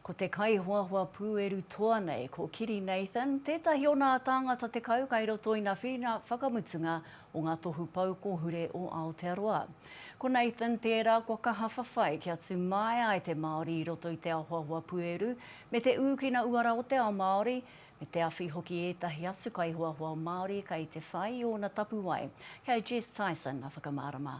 Ko te kaihoahoa pūeru toa nei ko Kiri Nathan tētahi o nā tāngata tekau kai roto i nā whiringa whakamutunga o ngā tohu pou kōhure o Aotearoa. Ko Nathan tērā kua kaha whawhai kia tū māia ai te Māori i roto i te ahoahoa pūeru me te ūkina uara o te ao Māori, me te awhi hoki ētahi atu kaihoahoa Māori kai te whai i ōna tapuwae. Kei a Jess Tyson a whakamārama.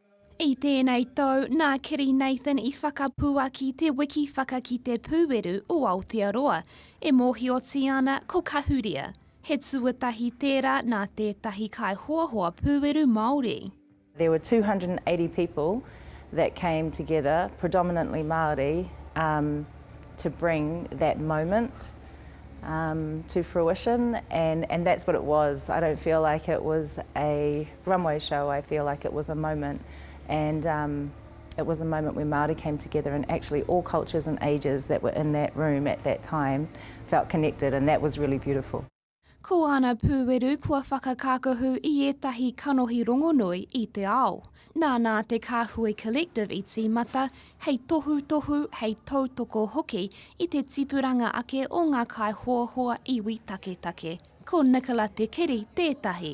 I tēnei tau, nā Kerry Nathan i whakapuaki te wiki Whakakite Pūeru o Aotearoa, e mōhiotia ana ko Kahuria. He tuatahi tērā nā tētahi kaihoahoa pūeru Māori. There were 280 people that came together, predominantly Māori, um to bring that moment um to fruition and and that's what it was. I don't feel like it was a. Runway show I feel like it was a moment and um it was a moment where Māori came together and actually all cultures and ages that were in that room at that time felt connected and that was really beautiful. Ko āna pūweru kua whakakākahu i ētahi kanohi rongonui i te ao. Nānā te Kāhui Collective i tīmata hei tohutohu, hei tautoko hoki i te tipuranga ake o ngā kaihoahoa iwi taketake. Ko Nicola Te Kiri tētahi.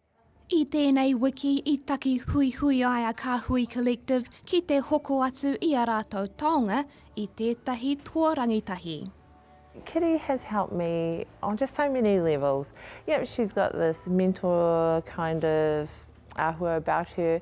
I tēnei wiki i taki huihui ai a Kāhui Collective ki te hoko atu i a rātou taonga i tētahi toa rangitahi. Kitty has helped me on just so many levels. Yep, she's got this mentor kind of ahua about her,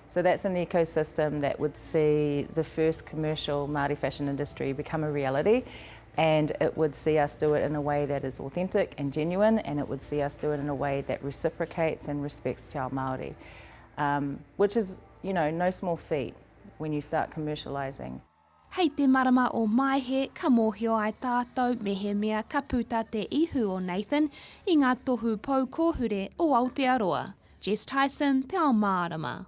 So that's an ecosystem that would see the first commercial Māori fashion industry become a reality and it would see us do it in a way that is authentic and genuine and it would see us do it in a way that reciprocates and respects Te Ao Māori, um, which is, you know, no small feat when you start commercialising. Hei te marama o Maehe ka mōhio ai tātou mehemea ka puta te ihu o Nathan i ngā tohu pou kōhure o Aotearoa. Jess Tyson, Te Ao Mārama.